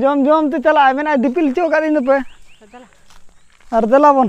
ᱡᱚᱢ ᱡᱚᱢ ᱛᱮ ᱪᱟᱞᱟᱜᱼᱟ ᱢᱮᱱᱟᱭ ᱫᱤᱯᱤᱞ ᱦᱚᱪᱚ ᱟᱠᱟᱫ ᱤᱧ ᱫᱚᱯᱮ ᱟᱨ ᱫᱮᱞᱟ ᱵᱚᱱ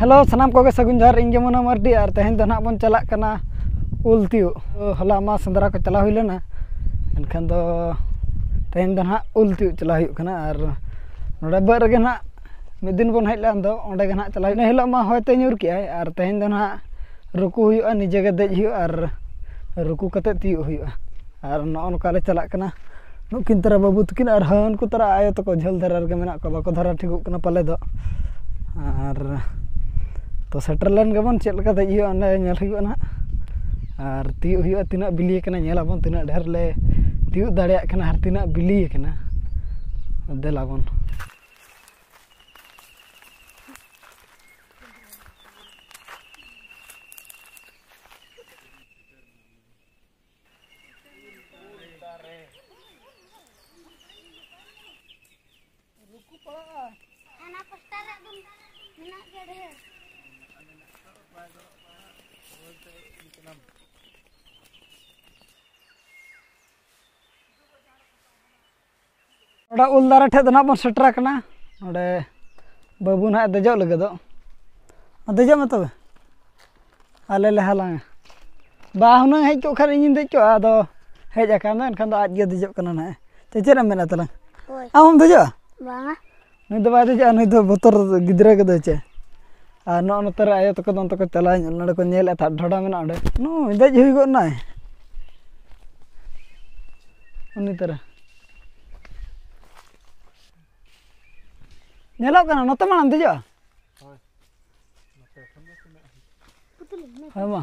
ᱦᱮᱞᱳ ᱥᱟᱱᱟᱢ ᱠᱚᱜᱮ ᱥᱟᱹᱜᱩᱱ ᱡᱚᱦᱟᱨ ᱤᱧ ᱜᱮ ᱢᱚᱱᱳ ᱢᱟᱨᱰᱤ ᱟᱨ ᱛᱮᱦᱮᱧ ᱫᱚ ᱱᱟᱦᱟᱜ ᱵᱚᱱ ᱪᱟᱞᱟᱜ ᱠᱟᱱᱟ ᱩᱞ ᱛᱤᱭᱳᱜ ᱦᱚᱞᱟ ᱢᱟ ᱥᱮᱸᱫᱽᱨᱟ ᱠᱚ ᱪᱟᱞᱟᱣ ᱦᱩᱭ ᱞᱮᱱᱟ ᱮᱱᱠᱷᱟᱱ ᱫᱚ ᱛᱮᱦᱮᱧ ᱫᱚ ᱱᱟᱦᱟᱜ ᱩᱞ ᱛᱤᱭᱳᱜ ᱪᱟᱞᱟᱣ ᱦᱩᱭᱩᱜ ᱠᱟᱱᱟ ᱟᱨ ᱱᱚᱰᱮ ᱵᱟᱹᱫᱽ ᱨᱮᱜᱮ ᱱᱟᱦᱟᱜ ᱢᱤᱫ ᱫᱤᱱ ᱵᱚᱱ ᱦᱮᱡ ᱞᱮᱱ ᱫᱚ ᱚᱸᱰᱮ ᱜᱮ ᱱᱟᱦᱟᱜ ᱪᱟᱞᱟᱣ ᱦᱩᱭᱩᱜᱼᱟ ᱤᱱᱟᱹ ᱦᱤᱞᱳᱜ ᱢᱟ ᱦᱚᱭ ᱛᱮ ᱧᱩᱨ ᱠᱮᱜᱼᱟᱭ ᱟᱨ ᱛᱮᱦᱮᱧ ᱫᱚ ᱱᱟᱦᱟᱜ ᱨᱩᱠᱩ ᱦᱩᱭᱩᱜᱼᱟ ᱱᱤᱡᱮ ᱜᱮ ᱫᱮᱡ ᱦᱩᱭᱩᱜᱼᱟ ᱟᱨ ᱨᱩᱠᱩ ᱠᱟᱛᱮᱫ ᱛᱤᱭᱳᱜ ᱦᱩᱭᱩᱜᱼᱟ ᱟᱨ ᱱᱚᱜᱼᱚ ᱱᱚᱝᱠᱟ ᱞᱮ ᱪᱟᱞᱟᱜ ᱠᱟᱱᱟ ᱱᱩᱠᱤᱱ ᱛᱟᱨᱟ ᱵᱟᱹᱵᱩ ᱛᱟᱹᱠᱤᱱ ᱟᱨ ᱦᱟᱹᱱᱠᱩ ᱛᱟᱨᱟ ᱟᱭᱳ ᱛᱟᱠᱚ ᱡᱷᱟᱹᱞ ᱫᱷᱟᱨᱟ ᱨᱮᱜᱮ ᱢᱮᱱᱟᱜ ᱠᱚᱣᱟ ᱵᱟᱠᱚ ᱫᱷᱟᱨᱟ ᱴᱷᱤᱠᱚᱜ ᱠᱟᱱᱟ ᱯᱟᱞᱮ ᱫᱚ ᱟᱨ ᱛᱚ ᱥᱮᱴᱮᱨ ᱞᱮᱱ ᱜᱮᱵᱚᱱ ᱪᱮᱫ ᱞᱮᱠᱟ ᱫᱮᱡ ᱦᱩᱭᱩᱜᱼᱟ ᱚᱱᱟ ᱧᱮᱞ ᱦᱩᱭᱩᱜᱼᱟ ᱦᱟᱸᱜ ᱟᱨ ᱛᱤᱭᱳᱜ ᱦᱩᱭᱩᱜᱼᱟ ᱛᱤᱱᱟᱹᱜ ᱵᱤᱞᱤ ᱠᱟᱱᱟ ᱧᱮᱞ ᱟᱵᱚᱱ ᱛᱤᱱᱟᱹᱜ ᱰᱷᱮᱨ ᱞᱮ ᱛᱤᱭᱳᱜ ᱫᱟᱲᱮᱭᱟᱜ ᱠᱟᱱᱟ ᱟᱨ ᱛᱤᱱᱟᱹᱜ ᱵᱤᱞᱤ ᱠᱟᱱᱟ ᱫᱮᱞᱟ ᱵᱚᱱ ᱨᱩᱠᱩ ᱯᱟᱲᱟᱜᱼᱟ ᱚᱱᱟ ᱯᱟᱥᱴᱟ ᱨᱮ ᱮᱠᱫᱚᱢ ᱢᱮᱱᱟᱜ ᱜᱮᱭᱟ ᱰᱷᱮᱨ ᱱᱚᱰᱮ ᱩᱞ ᱫᱟᱨᱮ ᱴᱷᱮᱡ ᱫᱚ ᱱᱟᱦᱟᱜ ᱵᱚᱱ ᱥᱮᱴᱮᱨ ᱟᱠᱟᱱᱟ ᱱᱚᱰᱮ ᱵᱟᱹᱵᱩ ᱱᱟᱦᱟᱜ ᱮ ᱫᱮᱡᱚᱜ ᱞᱟᱹᱜᱤᱫᱚᱜ ᱫᱮᱡᱚᱜ ᱢᱮ ᱛᱚᱵᱮ ᱟᱞᱮ ᱞᱮ ᱦᱟᱞᱟᱝᱟ ᱵᱟ ᱦᱩᱱᱟᱹᱝ ᱦᱮᱡ ᱠᱚᱜ ᱠᱷᱟᱱ ᱤᱧᱤᱧ ᱫᱮᱡ ᱠᱚᱜᱼᱟ ᱟᱫᱚ ᱦᱮᱡ ᱟᱠᱟᱱ ᱫᱚ ᱮᱱᱠᱷᱟᱱ ᱫᱚ ᱟᱡ ᱜᱮ ᱫᱮᱡᱚᱜ ᱠᱟᱱᱟ ᱱᱟᱦᱟᱜ ᱪᱮᱫ ᱮᱢ ᱢᱮᱱᱮᱫ ᱛᱟᱞᱟᱝ ᱟᱢ ᱦᱚᱢ ᱫᱮᱡᱚᱜᱼᱟ ᱵᱟᱝᱟ ᱱᱩᱭ ᱫᱚ ᱵᱟᱭ ᱫᱮᱡᱚᱜᱼᱟ ᱱᱩᱭ ᱫᱚ ᱵᱚᱛᱚᱨ ᱜᱤᱫᱽᱨᱟᱹ ᱜᱮ ᱫᱚᱭ ᱪᱮ ᱟᱨ ᱱᱚᱜᱼᱚᱸᱭ ᱱᱚᱛᱮ ᱨᱮ ᱟᱭᱳ ᱛᱟᱠᱚ ᱫᱚ ᱚᱱᱛᱮ ᱠᱚ ᱪᱟᱞᱟᱣ ᱧᱚᱜ ᱞᱮᱱᱟ ᱚᱸᱰᱮ ᱠᱚ ᱧᱮᱞᱮᱫ ᱛᱟᱦᱮᱸᱫ ᱰᱷᱚᱰᱟ ᱢᱮᱱᱟᱜᱼᱟ ᱚᱸᱰᱮ ᱱᱩᱭ ᱫᱮᱡ ᱦᱩᱭ ᱜᱚᱫ ᱱᱟᱭ ᱩᱱᱤ ᱛᱚᱨᱟ ᱧᱮᱞᱚᱜ ᱠᱟᱱᱟ ᱱᱚᱛᱮ ᱢᱟᱲᱟᱝ ᱮᱢ ᱫᱮᱡᱚᱜᱼᱟ ᱦᱳᱭ ᱢᱟ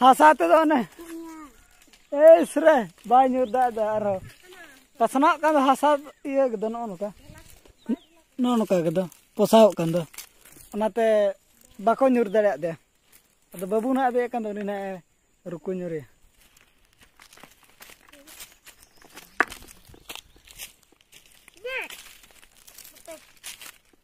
ᱦᱟᱥᱟ ᱛᱮᱫᱚ ᱚᱱᱮ ᱮᱥ ᱨᱮ ᱵᱟᱭ ᱧᱩᱨ ᱫᱟᱲᱮᱭᱟᱜᱼᱟ ᱟᱨᱦᱚᱸ ᱯᱟᱥᱱᱟᱜ ᱠᱟᱱ ᱫᱚ ᱦᱟᱥᱟ ᱤᱭᱟᱹ ᱠᱮᱫᱟ ᱱᱚᱜᱼᱚ ᱱᱚᱝᱠᱟ ᱱᱚᱜᱼᱚ ᱱᱚᱝᱠᱟ ᱠᱮᱫᱟ ᱯᱚᱥᱟᱣᱚᱜ ᱠᱟᱱ ᱫᱚ ᱚᱱᱟᱛᱮ ᱵᱟᱠᱚ ᱧᱩᱨ ᱫᱟᱲᱮᱭᱟᱜ ᱫᱮᱭᱟ ᱟᱫᱚ ᱵᱟᱹᱵᱩ ᱱᱟᱜ ᱟᱫᱮᱡ ᱠᱟᱱ ᱫᱚ ᱩᱱᱤ ᱱᱟᱜ ᱮ ᱨᱩᱠᱩ ᱧᱩᱨᱮᱭᱟ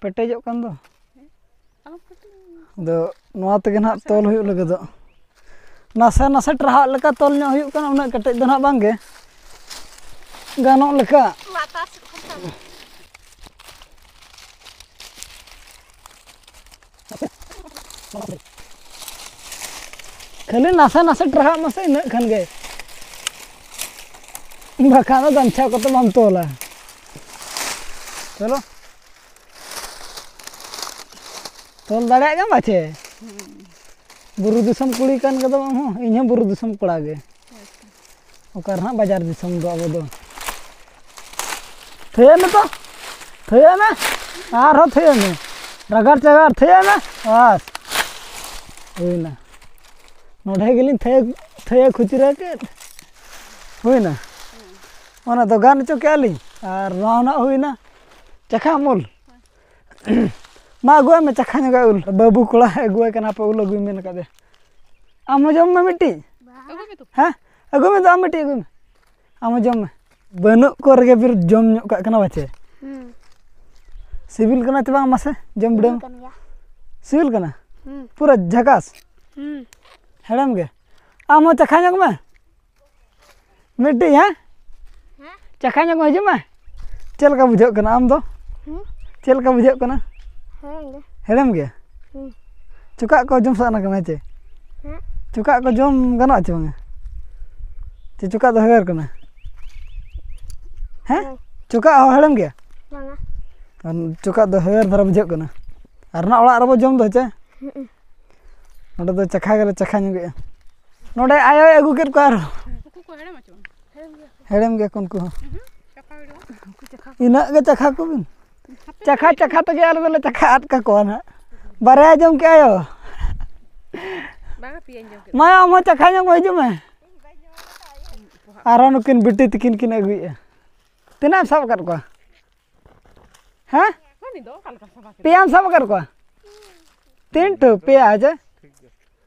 ᱯᱮᱴᱮᱡᱚᱜ ᱠᱟᱱ ᱫᱚ ᱟᱫᱚ ᱱᱚᱣᱟ ᱛᱮᱜᱮ ᱱᱟᱦᱟᱜ ᱛᱚᱞ ᱦᱩᱭᱩᱜ ᱞᱟᱹᱜᱤᱫᱚᱜ ᱱᱟᱥᱮ ᱱᱟᱥᱮ ᱴᱨᱟᱦᱟᱜ ᱞᱮᱠᱟ ᱛᱚᱞ ᱧᱚᱜ ᱦᱩᱭᱩᱜ ᱠᱟᱱᱟ ᱩᱱᱟᱹᱜ ᱠᱮᱴᱮᱡ ᱫᱚ ᱱᱟᱦᱟᱜ ᱵᱟᱝᱜᱮ ᱜᱟᱱᱚᱜ ᱞᱮᱠᱟ ᱠᱷᱟᱹᱞᱤ ᱱᱟᱥᱮ ᱱᱟᱥᱮ ᱴᱨᱟᱦᱟᱜ ᱢᱟᱥᱮ ᱤᱱᱟᱹᱜ ᱠᱷᱟᱱ ᱜᱮ ᱵᱟᱠᱷᱟᱱ ᱫᱚ ᱜᱟᱢᱪᱷᱟ ᱠᱚᱛᱮ ᱵᱟᱢ ᱛᱚᱞᱟ ᱪᱚᱞᱚ ᱛᱚᱞ ᱫᱟᱲᱮᱭᱟᱜ ᱜᱮᱭᱟᱢ ᱵᱟᱪᱮ ᱵᱩᱨᱩ ᱫᱤᱥᱚᱢ ᱠᱩᱲᱤ ᱠᱟᱱ ᱜᱮᱫᱚᱢ ᱟᱢ ᱦᱚᱸ ᱤᱧ ᱦᱚᱸ ᱵᱩᱨᱩ ᱫᱤᱥᱚᱢ ᱠᱚᱲᱟ ᱜᱮ ᱚᱠᱟ ᱨᱮᱦᱟᱸᱜ ᱵᱟᱡᱟᱨ ᱫᱤᱥᱚᱢ ᱫᱚ ᱟᱵᱚ ᱫᱚ ᱛᱷᱟᱹᱭᱟᱹᱜ ᱢᱮ ᱛᱚ ᱛᱷᱟᱹᱭᱟᱹᱜ ᱢᱮ ᱟᱨᱦᱚᱸ ᱛᱷᱟᱹᱭᱟᱹᱜ ᱢᱮ ᱨᱟᱜᱟᱲ ᱪᱟᱜᱟᱲ ᱛᱷᱟᱹᱭᱟᱹᱜ ᱢᱮ ᱵᱟᱥ ᱦᱩᱭᱱᱟ ᱱᱚᱰᱮ ᱜᱮᱞᱤᱧ ᱛᱷᱟᱹᱭᱟᱹ ᱛᱷᱟᱹᱭᱟᱹ ᱠᱷᱩᱪᱨᱟᱹ ᱠᱮᱫ ᱦᱩᱭᱱᱟ ᱚᱱᱟ ᱫᱚ ᱜᱟᱱ ᱦᱚᱪᱚ ᱠᱮᱜᱼᱟ ᱞᱤᱧ ᱟᱨ ᱱᱚᱣᱟ ᱦᱚᱸ ᱱᱟᱜ ᱦᱩᱭᱱᱟ ᱪᱟᱠᱷᱟ ᱩᱢᱩᱞ ᱢᱟ ᱟᱹᱜᱩᱣᱟᱭ ᱢᱮ ᱪᱟᱠᱷᱟ ᱧᱚᱜᱟ ᱩᱞ ᱵᱟᱹᱵᱩ ᱠᱚᱲᱟ ᱟᱹᱜᱩᱣᱟᱭ ᱠᱟᱱᱟ ᱯᱮ ᱩᱞ ᱟᱹᱜᱩᱭ ᱢᱮᱱ ᱟᱠᱟᱫᱮ ᱟᱢ ᱦᱚᱸ ᱡᱚᱢ ᱢᱮ ᱢᱤᱫᱴᱤᱡ ᱦᱮᱸ ᱟᱹᱜᱩᱭ ᱢᱮ ᱫᱩ ᱟᱢ ᱢᱤᱫᱴᱤᱡ ᱟᱹᱜᱩᱭ ᱢᱮ ᱟᱢ ᱦᱚᱸ ᱡᱚᱢ ᱢᱮ ᱵᱟᱹᱱᱩᱜ ᱠᱚ ᱨᱮᱜᱮ ᱯᱷᱤᱨ ᱡᱚᱢ ᱧᱚᱜ ᱠᱟᱜ ᱠᱟᱱᱟ ᱵᱟᱪᱮ ᱥᱤᱵᱤᱞ ᱠᱟᱱᱟ ᱪᱮ ᱵᱟᱝ ᱢᱟᱥᱮ ᱡᱚᱢ ᱵᱤᱰᱟᱹᱣ ᱥᱤᱵᱤᱞ ᱠᱟᱱᱟ ᱯᱩᱨᱟᱹ ᱡᱷᱟᱠᱟᱥ ᱦᱮᱲᱮᱢ ᱜᱮ ᱟᱢ ᱦᱚᱸ ᱪᱟᱠᱷᱟ ᱧᱚᱜᱽ ᱢᱮ ᱢᱤᱫᱴᱤᱡ ᱦᱮᱸ ᱪᱟᱠᱷᱟ ᱧᱚᱜ ᱠᱚ ᱦᱤᱡᱩᱜ ᱢᱮ ᱪᱮᱫ ᱞᱮᱠᱟ ᱵᱩᱡᱷᱟᱹᱜ ᱠᱟᱱᱟ ᱟᱢ ᱫᱚ ᱪᱮᱫ ᱞᱮᱠᱟ ᱵᱩᱡᱷᱟᱹᱜ ᱠᱟᱱᱟ ᱦᱮᱲᱮᱢ ᱜᱮ ᱪᱚᱠᱟᱜ ᱠᱚ ᱡᱚᱢ ᱥᱟᱱᱟ ᱠᱟᱱᱟ ᱪᱮ ᱪᱚᱠᱟᱜ ᱠᱚ ᱡᱚᱢ ᱜᱟᱱᱚᱜᱼᱟ ᱪᱮ ᱵᱟᱝᱟ ᱪᱮ ᱪᱚᱠᱟᱜ ᱫᱚ ᱦᱮᱣᱮᱨ ᱠᱟᱱᱟ ᱦᱮᱸ ᱪᱚᱠᱟᱜ ᱦᱚᱸ ᱦᱮᱲᱮᱢ ᱜᱮᱭᱟ ᱪᱚᱠᱟᱜ ᱫᱚ ᱦᱮᱣᱮᱨ ᱫᱷᱟᱨᱟ ᱵᱩᱡᱷᱟᱹᱜ ᱠᱟᱱᱟ ᱟᱨ ᱱᱟᱜ ᱚᱲᱟᱜ ᱨᱮᱵᱚ ᱡᱚᱢ ᱫᱚ ᱪᱮ ᱱᱚᱰᱮ ᱫᱚ ᱪᱟᱠᱷᱟ ᱜᱮᱞᱮ ᱪᱟᱠᱷᱟ ᱧᱚᱜᱮᱜᱼᱟ ᱱᱚᱰᱮ ᱟᱭᱳᱭ ᱟᱹᱜᱩ ᱠᱮᱫ ᱠᱚᱣᱟ ᱟᱨᱦᱚᱸ ᱦᱮᱲᱮᱢ ᱜᱮᱭᱟ ᱠᱚ ᱩᱱᱠᱩ ᱦᱚᱸ ᱤᱱᱟᱹᱜ ᱜᱮ ᱪᱟᱠᱷᱟ ᱠᱚᱵᱤᱱ ᱪᱟᱠᱷᱟ ᱪᱟᱠᱷᱟ ᱛᱮᱜᱮ ᱟᱞᱮ ᱫᱚᱞᱮ ᱪᱟᱠᱷᱟ ᱟᱫ ᱠᱟᱠᱚᱣᱟ ᱦᱟᱸᱜ ᱵᱟᱨᱭᱟᱭ ᱡᱚᱢ ᱠᱮᱫ ᱟᱭᱳ ᱢᱟ ᱟᱢ ᱦᱚᱸ ᱪᱟᱠᱷᱟ ᱧᱚᱜ ᱦᱤᱡᱩᱜ ᱢᱮ ᱟᱨᱦᱚᱸ ᱱᱩᱠᱤᱱ ᱵᱤᱴᱤ ᱛᱤᱠᱤᱱ ᱠᱤᱱ ᱟᱹᱜᱩᱭᱮᱫᱼᱟ ᱛᱤᱱᱟᱹᱜ ᱮᱢ ᱥᱟᱵ ᱟᱠᱟᱫ ᱠᱚᱣᱟ ᱦᱮᱸ ᱯᱮᱭᱟᱢ ᱥᱟᱵ ᱟᱠᱟᱫ ᱠᱚᱣᱟ ᱛᱤᱱᱴᱩ ᱯᱮᱭᱟ ᱦᱮᱸᱥᱮ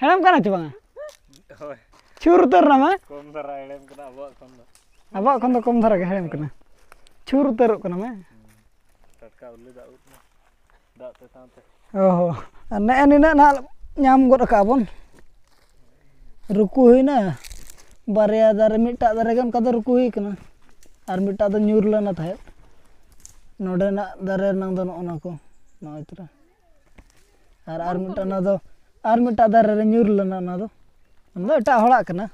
ᱦᱮᱲᱮᱢ ᱠᱟᱱᱟ ᱪᱮ ᱵᱟᱝᱟ ᱦᱳᱭ ᱪᱷᱩᱨ ᱩᱛᱟᱹᱨ ᱱᱟᱢᱟ ᱠᱚᱢ ᱫᱷᱟᱨᱟ ᱦᱮᱲᱮᱢ ᱠᱟᱱᱟ ᱟᱵᱚᱣᱟᱜ ᱠᱷᱚᱱ ᱫᱚ ᱟᱵᱚᱣᱟᱜ ᱠᱷᱚᱱ ᱫᱚ ᱠᱚᱢ ᱫᱷᱟᱨᱟ ᱜᱮ ᱦᱮᱲᱮᱢ ᱠᱟᱱᱟ ᱪᱷᱩᱨ ᱩᱛᱟᱹᱨᱚᱜ ᱠᱟᱱᱟ ᱢᱟ ᱴᱟᱴᱠᱟ ᱩᱞᱤ ᱫᱟᱜ ᱩᱫ ᱢᱟ ᱫᱟᱜ ᱛᱮ ᱥᱟᱶᱛᱮ ᱚ ᱦᱚᱸ ᱟᱨ ᱱᱮᱜᱼᱮ ᱱᱤᱱᱟᱹᱜ ᱱᱟᱦᱟᱜ ᱧᱟᱢ ᱜᱚᱫ ᱟᱠᱟᱜᱼᱟ ᱵᱚᱱ ᱨᱩᱠᱩ ᱦᱩᱭᱱᱟ ᱵᱟᱨᱭᱟ ᱫᱟᱨᱮ ᱢᱤᱫᱴᱟᱜ ᱫᱟᱨᱮ ᱜᱮ ᱚᱱᱠᱟ ᱫᱚ ᱨᱩᱠᱩ ᱦᱩᱭ ᱠᱟᱱᱟ ᱟᱨ ᱢᱤᱫᱴᱟᱜ ᱫᱚ ᱧᱩᱨ ᱞᱮᱱᱟ ᱛᱟᱦᱮᱸᱫ ᱱᱚᱰᱮᱱᱟᱜ ᱫᱟᱨᱮ ᱨᱮᱱᱟᱝ ᱫᱚ ᱱᱚᱜᱼᱚ ᱱᱟ ᱠᱚ ᱱᱚᱜᱼᱚᱭ ᱛᱚᱨᱟ ᱟᱨ ᱟᱨ ᱢᱤᱫᱴᱟᱝ ᱚᱱᱟ ᱫᱚ ᱟᱨ ᱢᱤᱫᱴᱟᱝ ᱫᱟᱨᱮ ᱨᱮ ᱧᱩᱨ ᱞᱮᱱᱟ ᱚᱱᱟ ᱫᱚ ᱚᱱᱟ ᱫᱚ ᱮᱴᱟᱜ ᱦᱚᱲᱟᱜ ᱠᱟᱱᱟ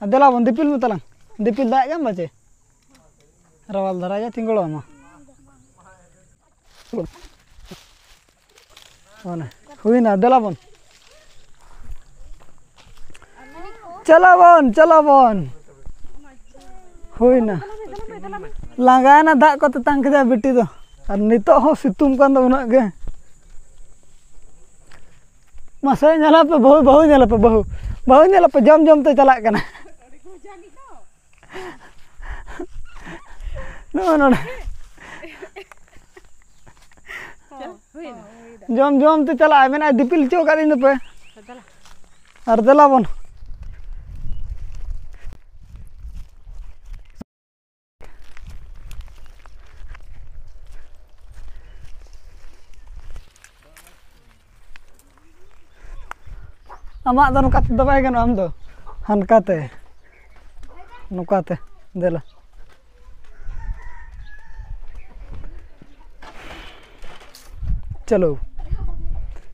ᱟᱨ ᱫᱮᱞᱟ ᱵᱚᱱ ᱫᱤᱯᱤᱞ ᱢᱮ ᱛᱟᱞᱟᱝ ᱫᱤᱯᱤᱞ ᱫᱟᱜ ᱧᱟᱢ ᱵᱟᱪᱮ ᱨᱟᱣᱟᱞ ᱫᱷᱟᱨᱟ ᱜᱮ ᱛᱤᱸᱜᱩ ᱟᱢᱟ ᱚᱱᱮ ᱦᱩᱭᱱᱟ ᱫᱮᱞᱟ ᱵᱚᱱ ᱪᱟᱞᱟᱣᱚᱱ ᱪᱟᱞᱟᱣᱚᱱ ᱦᱩᱭᱱᱟ ᱞᱟᱸᱜᱟᱭᱮᱱᱟ ᱫᱟᱜ ᱠᱚ ᱛᱮᱛᱟᱝ ᱠᱮᱫᱟ ᱵᱤᱴᱤ ᱫᱚ ᱟᱨ ᱱᱤᱛᱚᱜ ᱦᱚᱸ ᱥᱤᱛᱩᱝ ᱠᱟᱱ ᱫᱚ ᱩᱱᱟᱹᱜ ᱜᱮ ᱢᱟᱥᱮ ᱧᱮᱞᱟᱯᱮ ᱵᱟᱹᱦᱩ ᱵᱟᱹᱦᱩ ᱧᱮᱞᱟᱯᱮ ᱵᱟᱹᱦᱩ ᱵᱟᱹᱦᱩ ᱧᱮᱞᱟᱯᱮ ᱡᱚᱢ ᱡᱚᱢ ᱛᱮ ᱪᱟᱞᱟᱜ ᱠᱟᱱᱟ ᱱᱚᱜᱼᱚ ᱱᱚᱰᱮ ᱡᱚᱢ ᱡᱚᱢ ᱛᱮ ᱪᱟᱞᱟᱜᱼᱟᱭ ᱢᱮᱱᱟᱭ ᱫᱤᱯᱤᱞ ᱦᱚᱪᱚ ᱟᱠᱟᱫ ᱤᱧ ᱫᱚᱯᱮ ᱟᱨ ᱫᱮᱞᱟ ᱵᱚᱱ ᱟᱢᱟᱜ ᱫᱚ ᱱᱚᱝᱠᱟ ᱛᱮᱫᱚ ᱵᱟᱭ ᱜᱟᱱᱚᱜᱼᱟ ᱟᱢ ᱫᱚ ᱦᱟᱱᱠᱟᱛᱮ ᱱᱚᱝᱠᱟᱛᱮ ᱫᱮᱞᱟ ᱪᱚᱞᱚ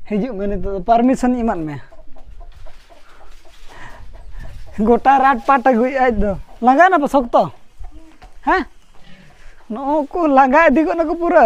ᱦᱤᱡᱩᱜ ᱢᱮ ᱱᱤᱛᱚᱜ ᱫᱚ ᱯᱟᱨᱢᱤᱥᱚᱱ ᱮᱢᱟᱫ ᱢᱮ ᱜᱚᱴᱟ ᱨᱟᱴ ᱯᱟᱴ ᱟᱹᱜᱩᱭᱮᱫ ᱟᱡ ᱫᱚ ᱞᱟᱸᱜᱟ ᱮᱱᱟ ᱯᱮ ᱥᱚᱠᱛᱚ ᱦᱮᱸ ᱱᱩᱠᱩ ᱞᱟᱸᱜᱟ ᱤᱫᱤ ᱜᱚᱫ ᱱᱟᱠᱚ ᱯᱩᱨᱟᱹ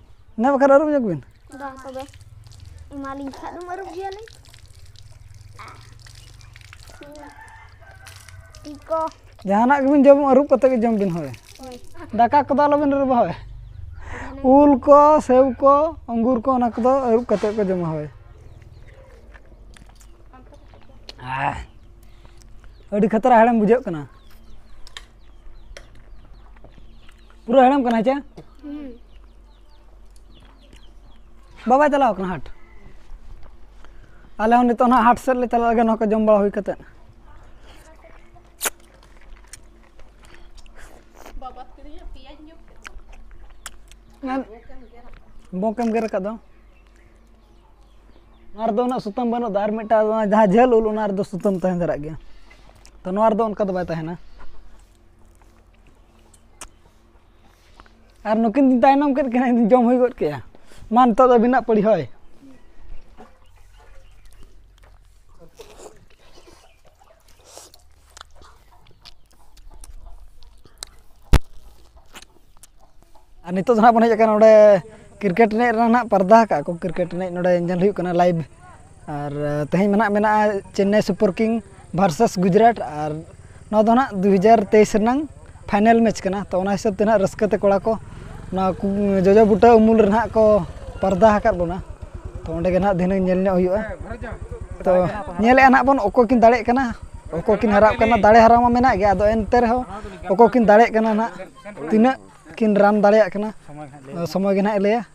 ᱚᱱᱟ ᱵᱟᱠᱷᱟᱱ ᱟᱹᱨᱩᱵ ᱧᱚᱜ ᱵᱤᱱ ᱵᱟᱝ ᱛᱚᱵᱮ ᱮᱢᱟᱞᱤᱧ ᱠᱷᱟᱡ ᱫᱚᱢ ᱟᱹᱨᱩᱵ ᱜᱮᱭᱟᱞᱤᱧ ᱛᱤ ᱠᱚ ᱡᱟᱦᱟᱱᱟᱜ ᱜᱮᱵᱤᱱ ᱡᱚᱢ ᱟᱹᱨᱩᱵ ᱠᱟᱛᱮ ᱜᱮ ᱡᱚᱢ ᱵᱤᱱ ᱦᱳᱭ ᱫᱟᱠᱟ ᱠᱚᱫᱚ ᱟᱞᱚᱵᱤᱱ ᱟᱹᱨᱩᱵᱟ ᱦᱳᱭ ᱩᱞ ᱠᱚ ᱥᱮᱣ ᱠᱚ ᱟঙ্গুর ᱠᱚ ᱚᱱᱟ ᱠᱚᱫᱚ ᱟᱹᱨᱩᱵ ᱠᱟᱛᱮ ᱠᱚ ᱡᱚᱢᱟ ᱦᱳᱭ ᱟᱦ, ᱟᱹᱰᱤ ᱠᱷᱟᱛᱨᱟ ᱦᱮᱲᱮᱢ ᱵᱩᱡᱷᱟᱹᱜ ᱠᱟᱱᱟ ᱯᱩᱨᱟᱹ ᱦᱮᱲᱮᱢ ᱠᱟᱱᱟ ᱪᱮ ᱵᱟᱵᱟᱭ ᱪᱟᱞᱟᱣ ᱠᱟᱱᱟ ᱦᱟᱴ ᱟᱞᱮ ᱦᱚᱸ ᱱᱤᱛᱚᱜ ᱱᱟᱦᱟᱜ ᱦᱟᱴ ᱥᱮᱫ ᱞᱮ ᱪᱟᱞᱟᱜ ᱞᱟᱹᱜᱤᱫ ᱱᱚᱣᱟ ᱠᱚ ᱡᱚᱢ ᱵᱟᱲᱟ ᱦᱩᱭ ᱠᱟᱛᱮᱫ ᱵᱚᱸᱠᱮᱢ ᱜᱮᱨ ᱟᱠᱟᱫ ᱫᱚ ᱱᱚᱣᱟ ᱨᱮᱫᱚ ᱩᱱᱟᱹᱜ ᱥᱩᱛᱟᱹᱢ ᱵᱟᱹᱱᱩᱜ ᱫᱚ ᱟᱨ ᱢᱤᱫᱴᱟᱝ ᱡᱟᱦᱟᱸ ᱡᱷᱟᱹᱞ ᱩᱞ ᱚᱱᱟ ᱨᱮᱫᱚ ᱥᱩᱛᱟᱹᱢ ᱛᱟᱦᱮᱸ ᱫᱷᱟᱨᱟᱜ ᱜᱮᱭᱟ ᱛᱚ ᱱᱚᱣᱟ ᱨᱮᱫᱚ ᱚᱱᱠᱟ ᱫᱚ ᱵᱟᱭ ᱛᱟᱦᱮᱱᱟ ᱟᱨ ᱱᱩᱠᱤᱱ ᱫᱤᱱ ᱛᱟᱭᱱᱚᱢ ᱠᱮᱫ ᱠᱤᱱᱟ ᱤᱧ ᱡᱚᱢ ᱦᱩᱭ ᱜᱚᱫ ᱠᱮᱜᱼᱟ ᱢᱟ ᱱᱤᱛᱚᱜ ᱫᱚ ᱟᱹᱵᱤᱱᱟᱜ ᱯᱟᱹᱲᱤ ᱦᱳᱭ ᱟᱨ ᱱᱤᱛᱚᱜ ᱫᱚ ᱦᱟᱸᱜ ᱵᱚᱱ ᱦᱮᱡ ᱟᱠᱟᱱᱟ ᱱᱚᱰᱮ ᱠᱨᱤᱠᱮᱴ ᱮᱱᱮᱡ ᱨᱮᱱᱟᱜ ᱯᱟᱨᱫᱟ ᱠᱟᱜᱼᱟ ᱠᱚ ᱠᱨᱤᱠᱮᱴ ᱮᱱᱮᱡ ᱱᱚᱰᱮ ᱧᱮᱞ ᱦᱩᱭᱩᱜ ᱠᱟᱱᱟ ᱞᱟᱭᱤᱵᱷ ᱟᱨ ᱛᱮᱦᱮᱧ ᱢᱟ ᱦᱟᱸᱜ ᱢᱮᱱᱟᱜᱼᱟ Chennai super king versus Gujarat ᱟᱨ ᱱᱚᱣᱟ ᱫᱚ ᱦᱟᱸᱜ ᱫᱩ ᱦᱟᱡᱟᱨ ᱛᱮᱭᱤᱥ ᱨᱮᱱᱟᱜ ᱯᱷᱟᱭᱱᱮᱞ ᱢᱮᱪ ᱠᱟᱱᱟ ᱛᱚ ᱚᱱᱟ ᱦᱤᱥᱟᱹᱵ ᱛᱮ ᱦᱟᱸᱜ ᱨᱟᱹᱥᱠᱟᱹ ᱛᱮ ᱠᱚᱲᱟ ᱠᱚ ᱱᱚᱣᱟ ᱠᱚ ᱡᱚᱡᱚ ᱵᱩᱴᱟᱹ ᱩᱢᱩᱞ ᱨᱮ ᱦᱟᱸᱜ ᱠᱚ ᱯᱚᱨᱫᱟ ᱟᱠᱟᱫ ᱵᱚᱱᱟ ᱛᱚ ᱚᱸᱰᱮ ᱜᱮ ᱦᱟᱸᱜ ᱫᱷᱤᱱᱟᱹᱝ ᱧᱮᱞ ᱧᱚᱜ ᱦᱩᱭᱩᱜᱼᱟ ᱛᱚ ᱧᱮᱞᱮᱜᱼᱟ ᱦᱟᱸᱜ ᱵᱚᱱ ᱚᱠᱚᱭ ᱠᱤᱱ ᱫᱟᱲᱮᱭᱟᱜ ᱠᱟᱱᱟ ᱚᱠᱚᱭ ᱠᱤᱱ ᱦᱟᱨᱟᱜ ᱠᱟᱱᱟ ᱫᱟᱲᱮ ᱦᱟᱨᱟᱣ ᱢᱟ ᱢᱮᱱᱟᱜ ᱜᱮᱭᱟ ᱟᱫᱚ ᱮᱱᱛᱮ ᱨᱮᱦᱚᱸ ᱚᱠᱚᱭ ᱠᱤᱱ ᱫᱟᱲᱮᱭᱟᱜ ᱠᱟᱱᱟ ᱦᱟᱸᱜ ᱛᱤᱱᱟᱹᱜ ᱠᱤᱱ ᱨᱟᱱ ᱫᱟᱲᱮᱭᱟᱜ ᱠᱟᱱᱟ ᱥᱚᱢᱚᱭ ᱜᱮ ᱦᱟᱸᱜ ᱮ ᱞᱟᱹᱭᱟ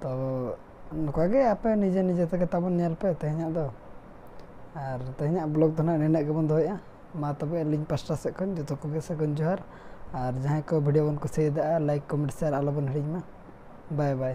ᱛᱚ ᱱᱚᱝᱠᱟ ᱜᱮ ᱟᱯᱮ ᱱᱤᱡᱮ ᱱᱤᱡᱮ ᱛᱮᱜᱮ ᱛᱟᱵᱚᱱ ᱧᱮᱞ ᱯᱮ ᱛᱮᱦᱮᱧᱟᱜ ᱫᱚ ᱟᱨ ᱛᱮᱦᱮᱧᱟᱜ ᱵᱞᱚᱜᱽ ᱫᱚ ᱱᱟᱦᱟᱜ ᱱᱤᱱᱟᱹᱜ ᱜᱮᱵᱚᱱ ᱫᱚᱦᱚᱭᱮᱜᱼᱟ ᱢᱟ ᱛᱚᱵᱮ ᱟᱹᱞᱤᱧ ᱯᱟᱥᱴᱟ ᱥᱮᱫ ᱠᱷᱚᱱ ᱡᱚᱛᱚ ᱠᱚᱜᱮ ᱥᱟᱹᱜᱩᱱ ᱡᱚᱦᱟᱨ ᱟᱨ ᱡᱟᱦᱟᱸᱭ ᱠᱚ ᱵᱷᱤᱰᱭᱳ ᱵᱚᱱ ᱠᱩᱥᱤᱭᱟᱫᱟ ᱞᱟᱭᱤᱠ ᱠᱚᱢᱮᱱᱴ ᱥᱮᱭᱟᱨ ᱟᱞᱚᱵᱚᱱ ᱦᱤᱲᱤᱧ ᱢᱟ ᱵᱟᱭ ᱵᱟᱭ